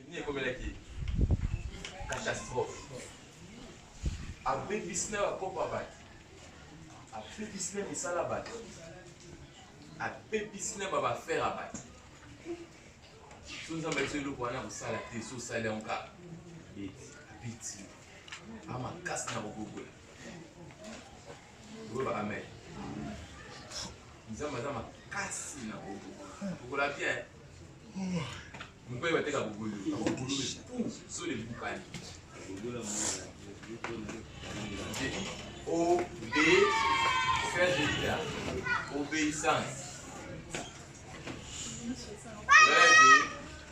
Nini ekomelaki catastrophe abebisi na bakopo ya bato abebisi na misala ya bato abebisi na babafere ya bato so nzambe biso eloko wana kosala te so osali yango kaka abeti amakasi na kobobola Loba amen. Nzambe aza makasi na bobo. Okola bien. Mukwe bateka bugulu. Bugulu pou so le bukani. Bugulu la mwana. O B faire de la obéissance. Rêve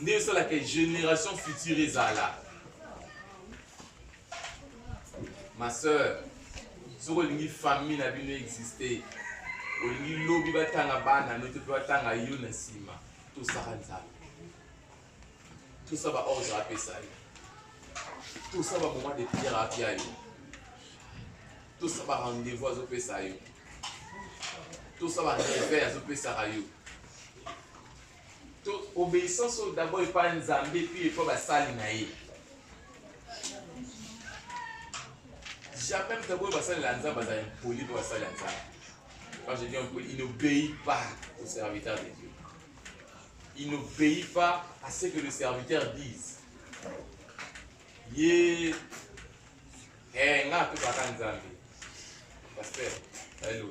nde esalaka génération future ezala ma sœur soki olingi famille na bino existe olingi lobi batanga bana no te mpe batanga yo na nsima tosaka nzambe tosa ba ordre apesa yo tosa ba moment de prière apia yo tosa ba rendez-vous azopesa yo tosa ba reveil azopesaka yo To obeissance oyo d'abord epai ya Nzambe puis epai basali na ye. Jamais mtaboyo basali la Nzambe baza impoli mpe basali la Nzambe. Quand je dis impoli, il n'obéit pas au serviteur de Dieu. Il n'obéit pas à ce que le serviteur dise. Ye eh nga to baka Nzambe. Pasteur, hello.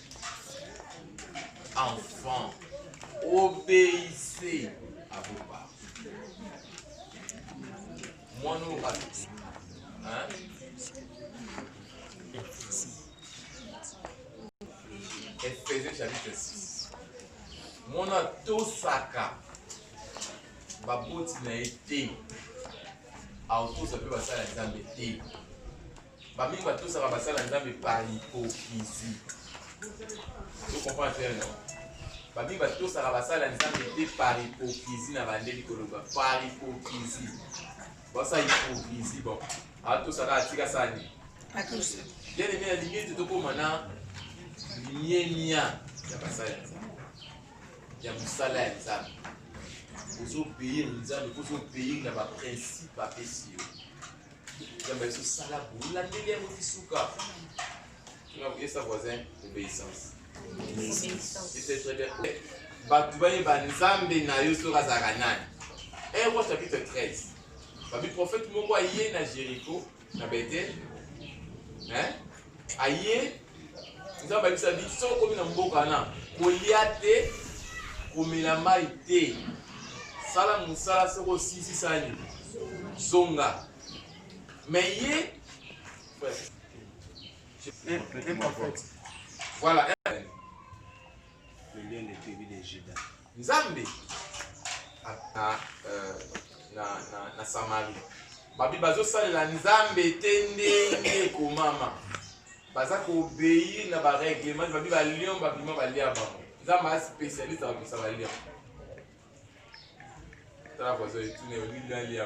enfants, obéissez à vos parents. Moi, nous, hein? Ephésiens chapitre 6. Mon atosaka baboti na ye te aotosa mpe basala nzambe te Ba mingi ba tosaka ba sala nzambe par hypocrisie. Vous comprenez non? Ba mingi ba tosaka ba sala nzambe te par hypocrisie na bande likoloba par hypocrisie. Ba sa hypocrisie bon. A tosaka atika sani. Atosa. Bien aimé na limie te tokoma na limie mia ya basala ya nzambe. Ya mosala ya nzambe. Ozo payer nzambe, ozo payer na ba principe apesi yo. Nzambe biso sala bolandeli yango ti suka. Tuna koyesa voisin obéissance. Ese très bien. Bato bayeba Nzambe na yo soki azalaka nani. 1 roi chapitre 13. Babi prophète moko aye na Jéricho na Bethel. Hein? aye nzambe ayebisa bi soki okomi na mboka wana kolia te komela mai te sala mosala soki osilisi sani zonga me ye voilà Nzambe na, euh, na, na, na Samarie babi bazosalela Nzambe te ndenge ekomama, baza kobeyi na bareglement babi balion babima balia bango. Nzambe a spécialiste ya kopesa balion tala voisin etune olingi alia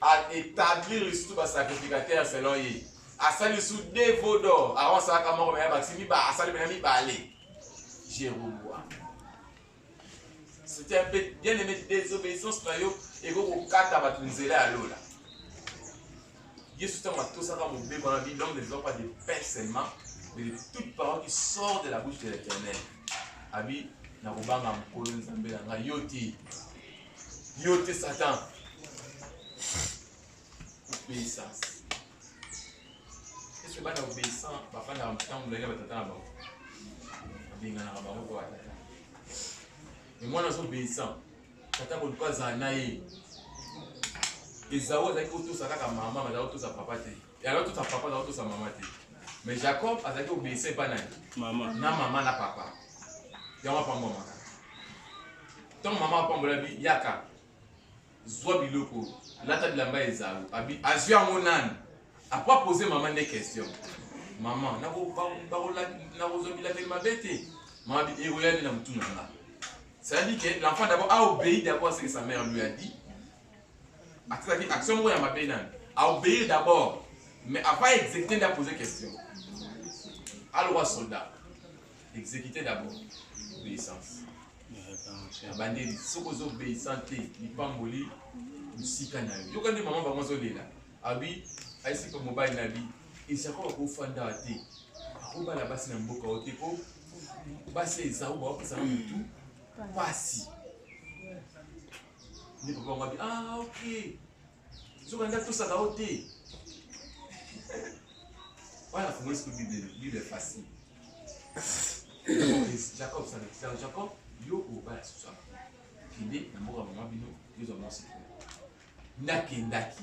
a établir lisusu ba sacrificateur selon ye asali lisusu de veau d'or awa asalaka moko meya bakisi miba asali pena mibale jerobwa c'était un peu bien aimé désobéissance na yo ekoki kokata bato nzela ya lola yesu ntango atosaka mobeko na bi l'homme ne vivant pas de pain seulement mais de toute parole qui sort de la bouche de l'éternel abi nakobanga mokolo nzambe na ngai yo te Yo te Satan. Obéissance. Est-ce que bana obéissant papa na ntango molai na batata na bango abenganaka bango mpo batata me mwana aza obéissant tata koluka azala na ye ezao azalaki kotosa kaka mama azalaki kotosa papa te yango tosa papa na tosa mama te mais jacob azalaki obeyisa epa nani na mama na papa yango apambwamaka ntango mama apambolaki yaka zwa biloko lata bilamba ezalu azwi yango nani apres apose mama nde question mama nakozwa bilateli mabe te mama ekoya nde na motuna nga c'est-à-dire que l'enfant d'abord a obéi d'abord ce que sa mère lui a dit atikaki action moko ya mabe nani aobéir d'abord mais avant exécuter nde apose question alokwa soldat exécuter d'abord obéissance abandeli soki oza obéissant te lipamboli mosika na yo yoka nde mama bango azolela abi aisipa mobali na bi esako bakofanda te akobala basi na mboka o te po basi ezau baopesaka motu mpasi nde papa yango abi ah ok soki andi atosaka yo te wana afungoli siko bible bible facile jacob sana jacob yo oba ya susu aba kende na mboka mama bino yozwa mwasi nakendaki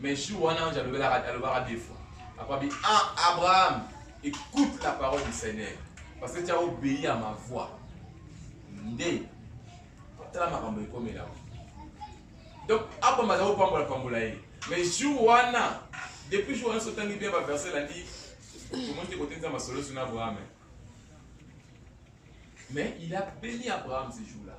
Mais jour wana ange alobelaka alobaka deux fois. Après bi ah Abraham écoute la parole du Seigneur parce que tu as obéi à ma voix. Nde tala makambo ekomela. Donc Abraham azali kopambola pambola ye. Mais jour wana depuis jour wana sotangi bien ba verset la dit comment tu côté nzamba solo sur Abraham. Mais il a béni Abraham ce jour-là.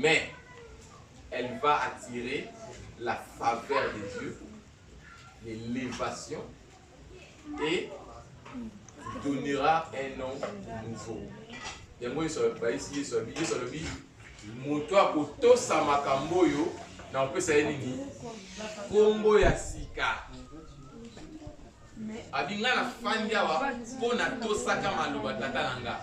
mais elle va attirer la faveur de Dieu, l'élévation et donnera un nom nouveau. yango yesu abayisi yesu alobi yesu alobi moto akotosa makambo oyo na kopesa ye nini nkombo ya sika abi ngai nafandi awa mpo natosaka maloba tata na ngai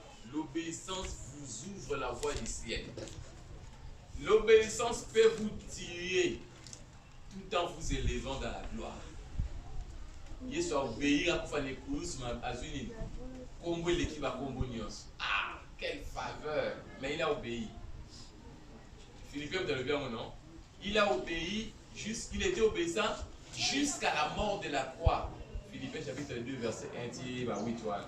L'obeyissance vous ouvre la voie du ciel. L'obeyissance peut vous tuer tout en vous élevant dans la gloire. Yesu aobeyir akufa na ekulusu azwi nini? Kombo eleki bakombo nyonso. Ah, quelle faveur! Mais il a obéi. Philippe mtalobi yango non? Il a obéi, il était obéissant jusqu'à la mort de la croix. Philippe chapitre 2 verset 1 ti ba 8 wana.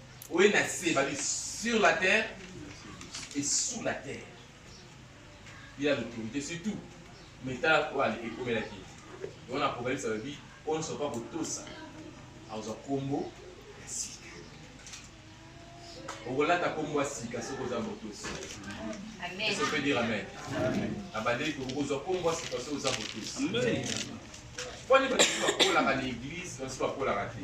oye na se babi sur la terre et sous la terre il a l'autorité sur tout mais tala oyo ekomelaki yango na apocalypse alobi oyo nyonso pa kotosa akozwa nkombo ya sika okolata nkombo ya sika soki oza motosi eso mpe dire amen abandeli okozwa nkombo ya sika soki oza motosi mpo nde bato bakolaka na eglise bato bakolaka te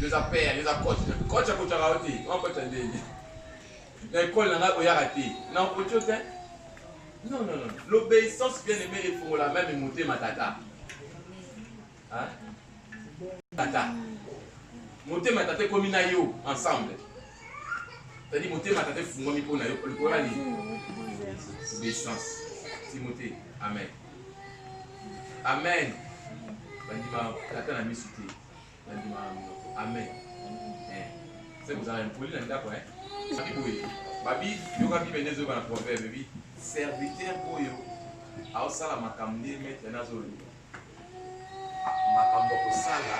Yoza père, yoza coach. Coach akotaka yo te. Wana coach ndenge. Na école na ngai oyaka te. Na okoti yo te. Non, non, non. L'obéissance bien aimée efongola même motema tata. Hein? Tata. Motema tata ekomi na yo ensemble. C'est-à-dire motema tata efungwami mpo na yo. Olikona nini? Obéissance. Timothée. Amen. Amen. Bandima tata na misu te. Bandima minoko. Amen. Eh. C'est vous avez impoli na ndako eh. Babi boye. Babi yoka bibe ndezo bana proverbe bi. Serviteur oyo aosala makambo nde maître nazo loba. Makambo kosala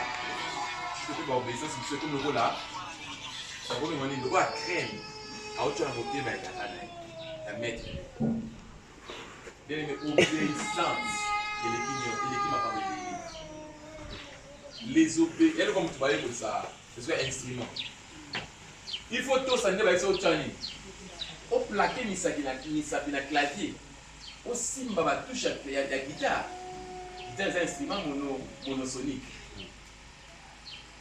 soki ba obéissance biso ekomi lokola akomi mani lokola crème aotya na motema ya tata na ye ya maître Bien-aimé, obéissance eleki nyo- eleki makambo ebele. Les obé- yaani kwa moto bayekolisa ezwa instrument il faut tosa nde bayebisa otya nini oplake misapi na misapi na clavier osimba batushe ya- ya ya guitare guitare eza instrument mono monosonique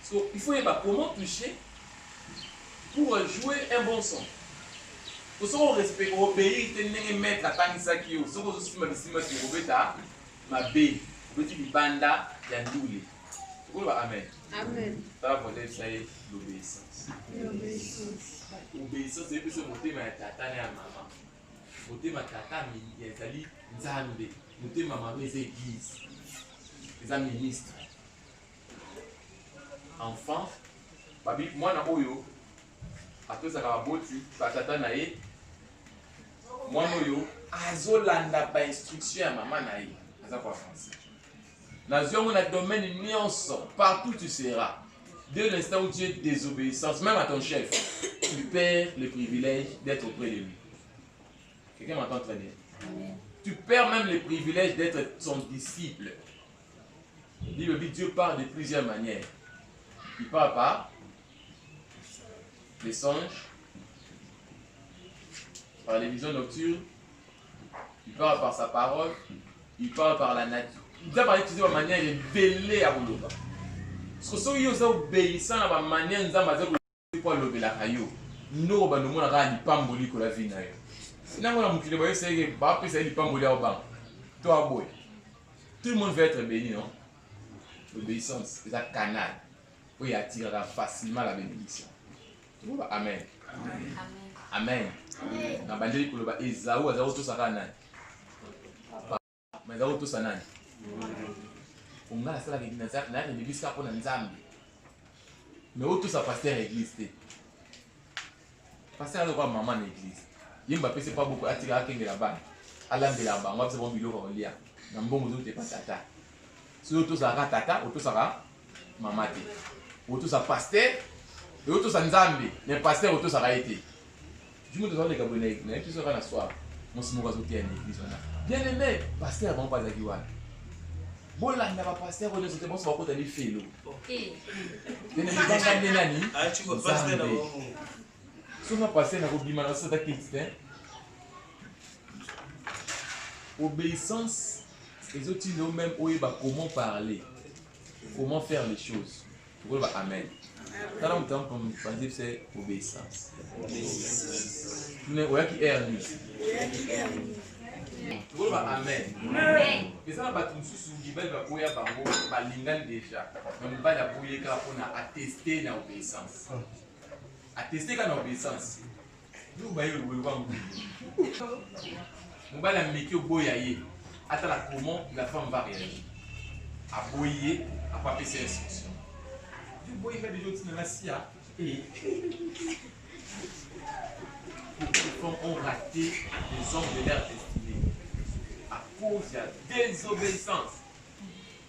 So il faut oyeba comment toucher pour jouer un bon son. Po soki o respect o obeir te ndenge maître atangisaki yo soki ozo simba bisimba te okobeta mabe obeti libanda ya ndule. Koloba amen. Amen. Tala volet ça est l'obéissance. L'obéissance. Obéissance eyebisi motema ya tata na ya mama. Motema tata ezali Nzambe. Motema mama eza église. Eza ministre. Enfant, babi mwana oyo atosaka baboti batata na ye mwana oyo azolanda ba instruction ya mama na ye aza kwa français nazwi yango na domaine nyonso partout tu seras de l'instant où tu es désobéissance même à ton chef tu perds le privilège d'être auprès de lui quelqu'un m'entend très bien tu perds même le privilège d'être son disciple Bible dit Dieu parle de plusieurs manières. Il parle par les songes, par les visions nocturnes, il parle par sa parole, il parle par la nature. nzambe autilize bamanière ebele ya koloba soki oza obeyisa na bamanière nzambe aza te mpo alobelaka yo ndoko bando omona kaka lipamboli likolo ya vi na yo nango na mokili bayebisa yeke bapesa ye lipamboli ya obanga to aboya tout le monde va être béni non l'obéissance eza canal oyo atiraka facilement la bénédiction toloba amen amen na bandeli koloba ezau aza kotosaka nani Mais zao tout ça nani? Onga asala ke na zak na ni biska pona nzambe. Mais o tout ça pasteur église te. Pasteur alikuwa mama na église. Yemba pese pa boko atika akengela bana. Alambela bango apesa bango biloko kolia. Na mbongo zote pa tata. Si o tout ça ka tata, o tout ça ka mama te. O tout ça pasteur, o tout ça nzambe, mais pasteur o tout ça ka ete. Jumi toza leka boye na na episode kana soir. Mosi moko azo teya na eglise wana. Bien aimé, pasteur bango bazaki wana. Bolanda ba pasteur oyo nzote bonso bakota ni felo. Eh. Bien aimé banga nde nani? Ah, tu vois pasteur na bango. Sona pasteur na kobima na sota kids te. Obéissance ezotinda yo même oyeba comment parler, comment faire les choses. Tukoloba amen. Tala moto yango mpanzi se obéissance. Mais oyaki air nini? Tukoloba amen. Eza na bato mosusu mibali baboya bango balingani deja, mais mobali aboye kaka mpo na ateste na obéissance, ateste kaka na obéissance mobali ameki oboya ye atala comment la femme va réagir aboyi ye apo apesa instruction oboyi nga deja otina na sia Pourquoi ont raté les hommes de leur destinée à cause de la désobéissance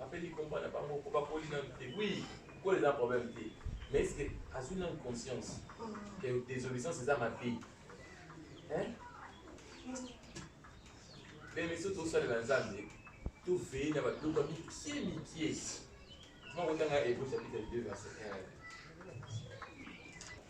apeli combat na bango po bakoli nanu te oui kola eza problème te mais est ce que azwi nanu conscience que désobéissance eza mabe bemission tosalela nzambe toveye na babiloko ya mikie mikie mokotanga ebosapita 2 verset 1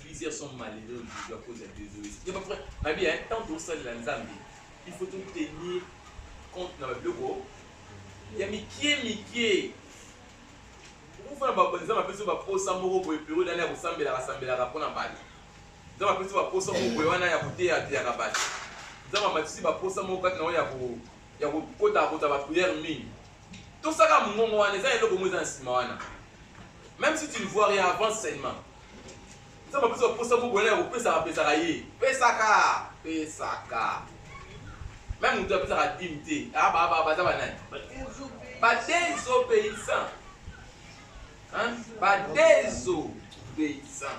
plusieurs sont malheureux aujourd'hui à cause ya désoïsme ye bafra nabi ya ntango tokosalela nzambe il faut totenir compte na babiloko ya mikie mikie okofana nzambe apesi baposa moko boye periode ana ya kosambelaka sambelaka mpo na bato nzambe apesi baposa moko boye wana ya koteya ateyaka bato nzambe amatisi baposa moko kati na oyo ya kokota kota bapriere mingi To saka mungongo wana eza eloko mo eza na sima wana. Même si tu ne vois rien avance seulement. Eza ba pesa posa mo boyana ko pesa ka pesa ka ye. Pesa ka pesa ka. Même mutu apesa ka dim te. Ah ba ba ba za ba nani? Ba dezo paysan. Hein? Ba dezo paysan.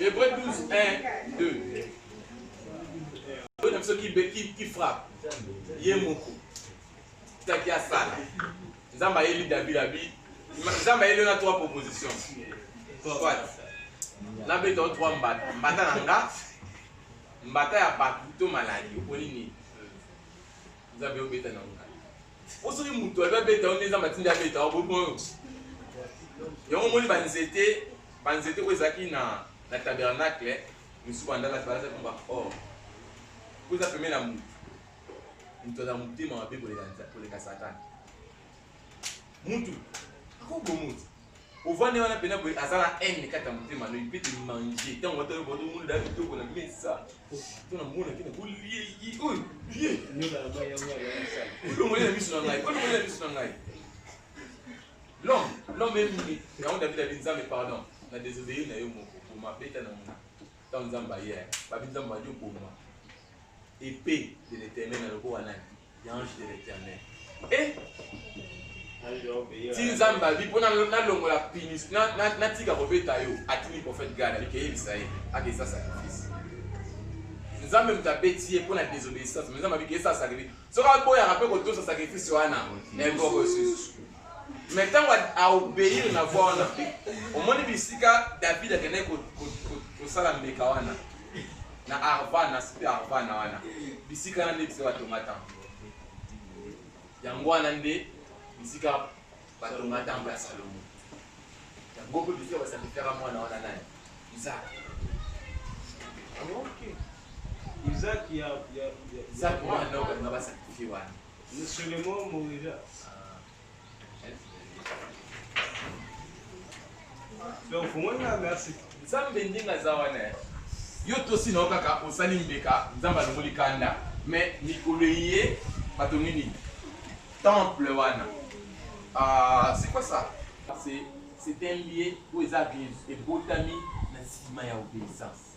Hébreu 12, 1, 2. Oyo na biso ki frappe ye moko taki asala nzambe ayeli david abi nzambe ayeli na trois proposition soit nabeta o trois mbata mbata na nga mbata ya bato to maladi oponi nini nzambe obeta na nga po soki moto alobi abeta yo nde nzambe atindi abeta yo bobi moyo yango omoni banzete banzete oyo ezalaki na na tabernacle misusu bandalaki balazaki mba or oh. po eza pembe na moto moto aza motema mabe koleka satana mutu akobomuti ovandi wana pena boye aza na haine kati ya motema no ipete mange ntango ata oyeba tomoni da bitoko na mesa to namonaki na kolieyi oyo bie olongoli na miso na ngai olongoli na miso na ngai l'homme l'homme emini yango david abi nzambe pardon na désobéir na yo moko boma beta na mona ntango nzambe aye babi nzambe badi oboma epe de l'éternel na lokola nani L'ange de l'éternel. Eh! ti nzambe abi mpo nalongola pinis natika kobeta yo atuni prophète gad abi keyebisa ye akesa sacrifice nzambe moto abeti ye mpo na désobéissance mais nzambe abi keyesa sacrifice soki aboyaka mpe kotosa sacrifice wana eboko esusu mais ntango aobeir na voi wana mpe omoni bisika david akendaki kosala mbeka wana na arva na sipe arva na wana bisika wana nde bisika batonga temple yango wana nde bisika batonga temple ya salomo yango mpe bisika basakrifera mwana wana nani isak isak mwana oyo balinga basakrifie wana Monsieur le mot mourira. Donc, pour moi, merci. Nzambe ndinga za wana. Yo tosi na okaka osali mbeka, Nzambe alongoli kanda. Mais mikolo ye bato nini? Temple wana. Ah, c'est quoi ça? C'est c'est un lieu où les abus et botami na sima ya obéissance.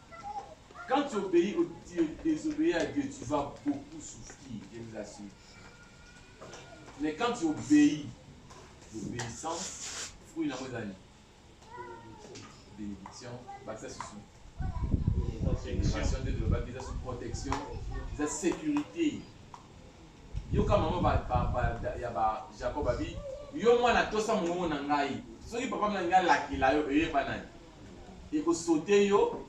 Quand tu obéis, tu désobéis à Dieu, tu vas beaucoup souffrir, je vous assure. Mais quand tu obéis, l'obéissance, fruit la redani. Bénédiction, bah ça c'est Protection de l'Oba, ils ont protection, ils ont sécurité. Yo kama maman ba ba ba ya ba Jacob abi, yo mwana tosa mongo na ngai. Soki papa na ngai lakila yo eye banani. eko sauter yo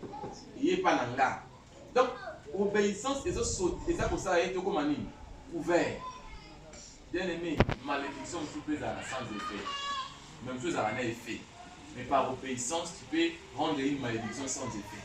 eye epa na nga donc obeissance ezo saute eza kosala ye tokoma nini couvert bien aimé malédiction mosusu mpe ezalaka sans effet mais mosusu ezalaka na effet mais par obeissance tu peux rendre une malédiction sans effet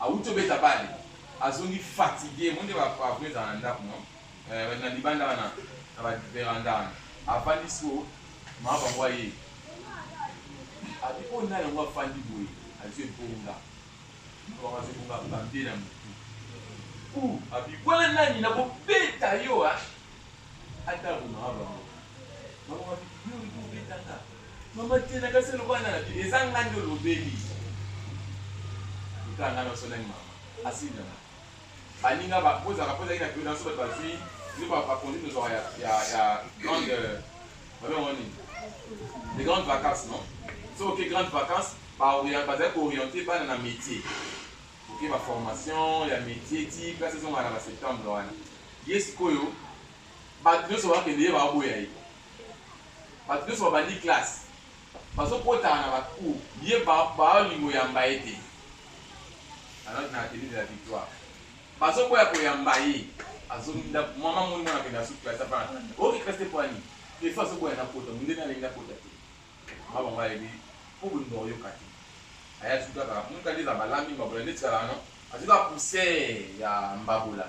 Awuti obeta balle azongi fatigue omoni ba pavro ezala na ndaku no eh, na libanda wana na ba veranda wana avandi siko mama bango aye abi oyo nani yango afandi boye azo ebonga mama bango azo ebonga bambe na motu u abi wana nani nakobeta yo ah. Atako mawa bango bakobaki bilobi kobetaka mama te na kasi lokola na nabi eza nga nde olobeli lokola nga naso nani mama asindana baninga bakozaka mpo ezalaki na pio naso bato bazwi nde bakonzi tozwaka ya grande babengo nini de grande vacance non soki oke grande vacance bazali kooriente bana na métier oke baformation ya métier ti place ezongaka na baseptembre wana Ye sikoyo bato nyonso bakende ye baboya ye, bato nyonso babandi classe bazokotaka na ba cours ye baolingo yamba ye te alors na atelier de la victoire bazoboya koyamba ye azongi ndako mama moni mwana kende asuki classe apana oki classe te pwani efa azoboya na kota mondeni alingi na kota te mama bango alobi mpo bolingo oyoka te aya suki kaka moka nde eza balambi mbabola nde tikalaka no azoka pousse ya mbabola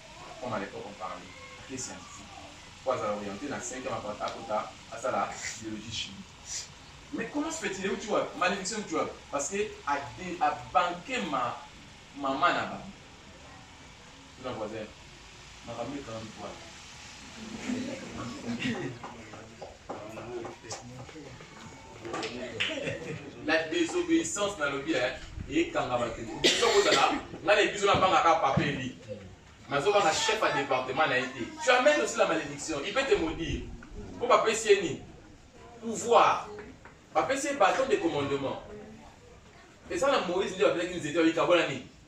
comme à l'epoque on parlait ake scientifique po azala oriente na cinquième apart akota asala biologie chimie mais comment se fait-il euti wapi malédiction euti wapi parce que ade abanke ma mama na bango tuna voisin makambo ekanga mpoa la désobéissance nalobi ekanga bato biso kozala ngai na biso nabangaka papa eli nazobanga chef ya département na ye te tu amène aussi la malédiction il peut te maudire mpo bapesi ye nini pouvoir bapesi ye bâton de commandement eza na moïse nde bapesaki nzete babikabola nini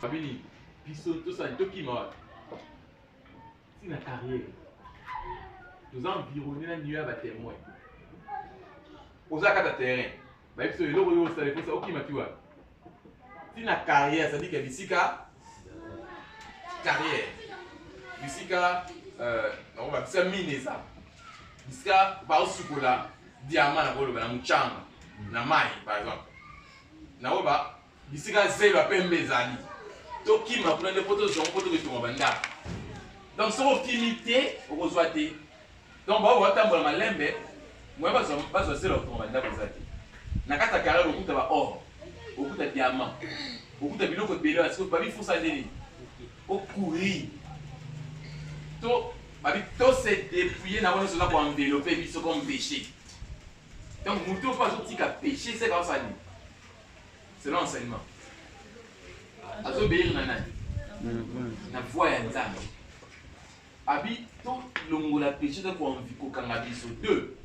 Famille, biso tosali tokima wapi ntina carrière toza environne na niyo ya batemoin oza kata terrain bayebi biso eloko oyo osala eposa okima ti wapi ntina carrière cetadire ke bisika carrière bisika euh, nakobakisa mine eza bisika baosukola diamant na koloba na muchanga na mai par exemple naoba bisika zelo ya pembe ezali tokima kuna nde mpo tozwa mpo tokotonga bandako donc soki okimi te okozwa te donc bao batambola malembe moye bazwa zelo ya kotonga bandako eza te na kati ya carrière okuta ba or okuta diamant okuta biloko ebele babifusa nde nini Ko courir. To babi to se dépouiller na wana sola ko envelopper biso comme péché. Donc mutu pas zo tika péché c'est comme ça ni. C'est l'enseignement. Azo béir na nani? Na voix ya Nzambe. Abi to longola péché to ko envi ko kanga biso deux.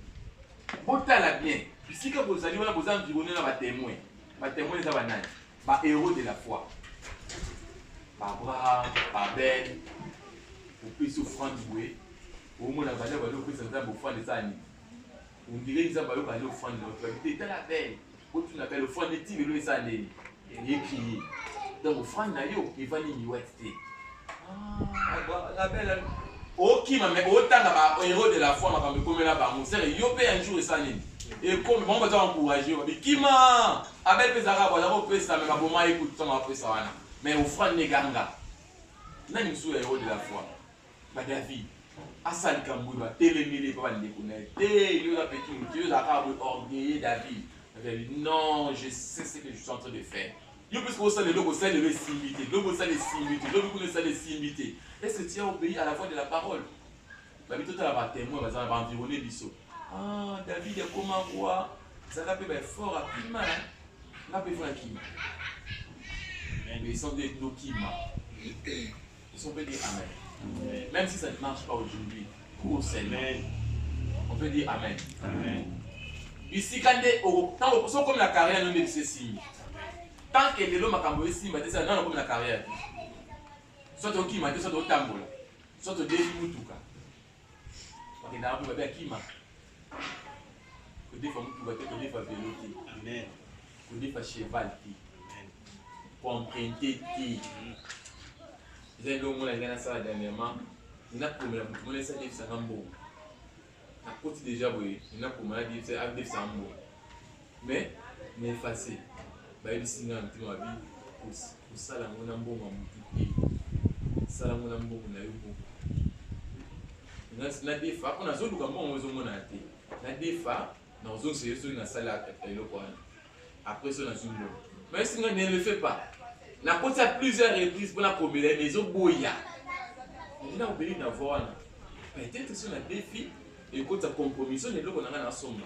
Botala bien. Bisika bozali wana boza environné na ba témoins. Ba témoins eza ba nani? Ba heros de la foi. Ba Abraham, ba Ben, opesi offrande boye omona baza baza opesa nzambe offrande eza nini ondire nzambe ayoka nde offrande na otobabi te etala bele otuna bele offrande ti lelo eza ndeni eye crie donc offrande na yo evandi miwati te okima me otanga ba hero de la foi makambo ekomela bango sere yo mpe un jour esali nini ekomi bango baza encourage yo bikima abel mpe ezalaka baza kopesa me baboma ye kutu ntango bapesa wana me ofrande ne ganga nani mosusu ya hero de la foi badavid asala likambo oyo batelemeli epa bandeko na ye te yo oza peki motu yo ozalaka boye orgueille david non je sais ce que je suis en train de faire Yo mpe soki osala eloko osali lelo esimbi te, lobi osala esimbi te, lobi kuna esala esimbi te, est ce que tu as obeye à la voix de la parole? Babi totala ba temoins bazala ba environner biso. Ah, David akoma roi, zaka mpe ba effort akima, nga mpe fo nakima. Obeyissant nde tokima. Ils sont bénis, Amen. Amen. Même si ça ne marche pas aujourd'hui, pour Seigneur, on peut dire Amen. Amen. bisika nde ntango soki okomi na carrière no nde biso esimbi tant que lelo makambo esimba te sala nano okomi na carrière te soit okima te soit otambola soit odefi mutuka bakendaka mpe babe akima kodefa motuka te kodefa velo te amen kodefa cheval te amen koemprunte te mm. eza eloko mona ngai nasala dernièrement nakomela moto mona esi adefisanga mbongo nakoti deja boye nakoma adefisanga mbongo Mais na effacer bayebisi nga na motema mabe kosala yango na mbongo ya motu te sala yango na mbongo na yo moko nadefa mpo nazoluka mbongo ezomona ya te nadefa nakozongisa yo soki nasala eloko wana après so nazwi mbongo mais singa ne le fait pas nakotisa plusieurs reprises mpo nakobela ye mais ezoboya ndi nakobeli na voi wana peut-être so na defi ekotisa compromission na eloko na ngai nasomba